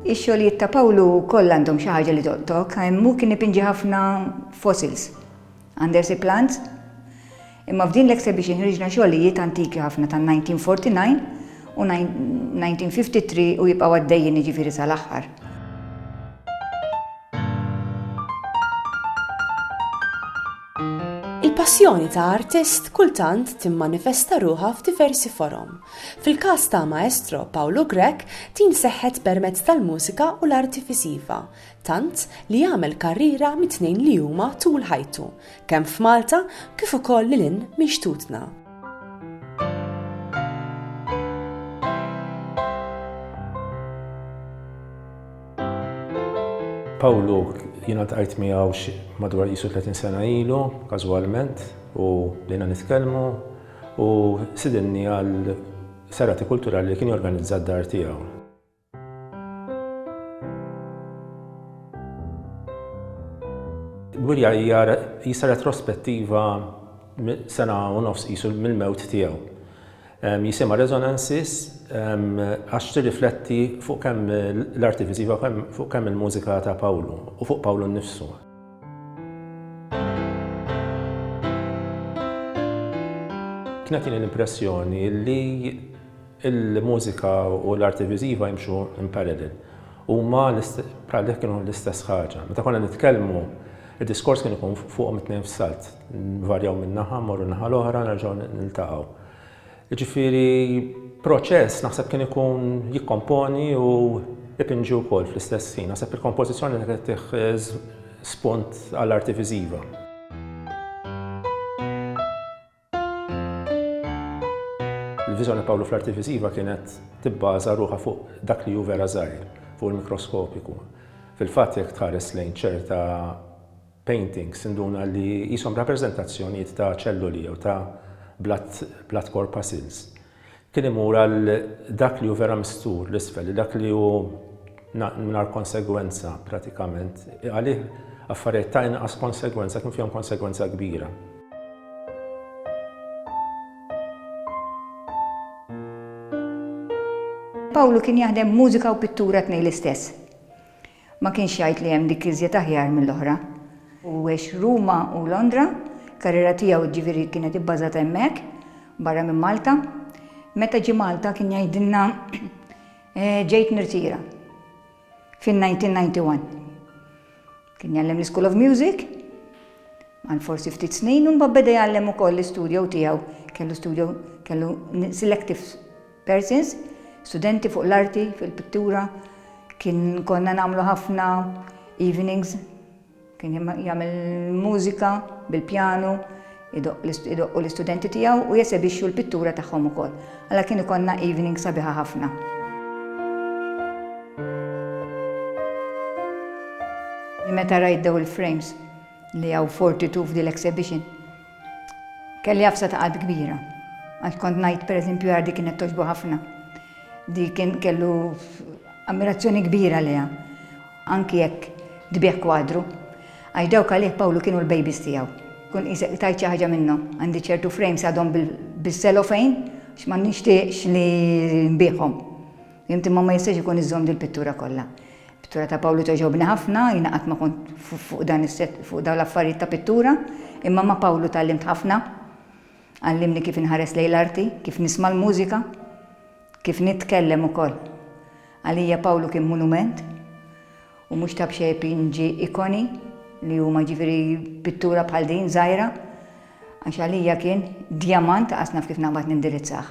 Ix-xogħlijiet ta' Pawlu wkoll għandhom xi ħaġa li tolqtok. Hemm hu kien ipinġi ħafna fossils. Għandha xi plans? Imma f'din l-exhibition ħriġna xogħlijiet antiki ħafna tan-1949 u 1953 u jibqgħu għaddejjin jiġifieri sal-aħħar. Il-passjoni ta' artist kultant timmanifesta ruħha f'diversi forom. Fil-każ ta' Maestro Pawlu Grech din seħħet permezz tal-mużika u l-arti viżiva, tant li għamel karriera mit-tnejn li huma tul ħajtu, kemm f'Malta kif ukoll lil hinn minn xtutna. Pawlu jiena tqajt miegħu madwar qisu 30 sena ilu, każwalment, u bdejna nitkellmu u sidinni għal serati kulturali li kien jorganizza d-dar tiegħu. Gwirja hija jisa retrospettiva sena u nofs qisu mill-mewt tiegħu. Jisimha Resonances għax tirrifletti fuq kemm l-arti viżiva fuq kemm il-mużika ta' Pawlu u fuq Pawlu nnifsu. Kienet tini l-impressjoni li Il-mużika u l-arti viżiva jimxu in parallel. Huma bħal jekk kienu l-istess ħaġa. Meta konna nitkellmu, id-diskors kien ikun fuqhom it-tnejn f'salt. Nvarjaw minn naħa, mmorru n-naħa l-oħra, nerġgħu niltaqgħu. Jiġifieri proċess naħseb kien ikun jikkomponi u jpinġi wkoll fl-istess ħin. Naħseb il-kompożizzjoni li kienet tih spunt għall-arti viżiva. Il-viżjoni Pawlu fl-arti viżiva kienet tibbaża ruħha fuq dak li hu vera żgħir, fuq il-mikroskopiku. Fil-fatt jekk tħares lejn ċerta paintings induna li qishom rappreżentazzjonijiet ta' ċelluli jew ta' blood corpuscles. Kien imur għal dak li hu vera mistur, l-isfel, li dak li hu mingħajr konsegwenza pratikament, għalih affarijiet ta' inqas konsegwenza kien fihom konsegwenza kbira. Pawlu kien jaħdem mużika u pittura tnejn l-istess. Ma kienx jgħid li hemm dik iżjed aħjar mill-oħra. U għex Ruma u Londra, il-karriera tiegħu jiġifieri kienet ibbażata hemmhekk, barra minn Malta. Meta ġie Malta kien jgħidilna ġejt nirtira fin-1991. Kien jgħallem l-School of Music għal forsi ftit snin u mbagħad beda jgħallem ukoll l-istudio tiegħu, kellu studio, kellu selective, Persins, studenti fuq l-arti fil-pittura, kien konna nagħmlu ħafna evenings, kien jagħmel mużika bil-pjanu, idoqqu l-istudenti tiegħu u jesebixxu l-pittura tagħhom ukoll. Alla kien ikollna evening sabiħa ħafna. Meta rajt daw il-frames li għaw 42 f'dil exhibition, Kelli għafsa ta' qatt kbira. Għax kont ngħid pereżempju għar dik kienet togħġbu ħafna. Dik kien kellu ammirazzjoni kbira leha. Anki jekk tbigħ kwadru. Għax dawk għalih Pawlu kienu l-babies tiegħu. Kun qisek tajt xi ħaġa minnhom. Għandi ċertu frames għadhom bis-selofejn għax ma nixtieqx li nbiegħhom. Fhimt imma ma jistax ikun iżżomm dil-pittura kollha. Pittura ta' Pawlu togħġobni ħafna, jiena qatt ma kont fuq dan is-set fuq dawn l-affarijiet ta' pittura, imma ma' Pawlu tgħallimt ħafna. Għallimni kif inħares lejn l-arti, kif nisma' l-mużika, kif nitkellem ukoll. Għalija Pawlu kien monument u mhux ta' b'xejn pinġi ikoni li huma ġifieri pittura bħal din żgħira għax għalija kien djamant, qas naf kif naqbad nindirizzah.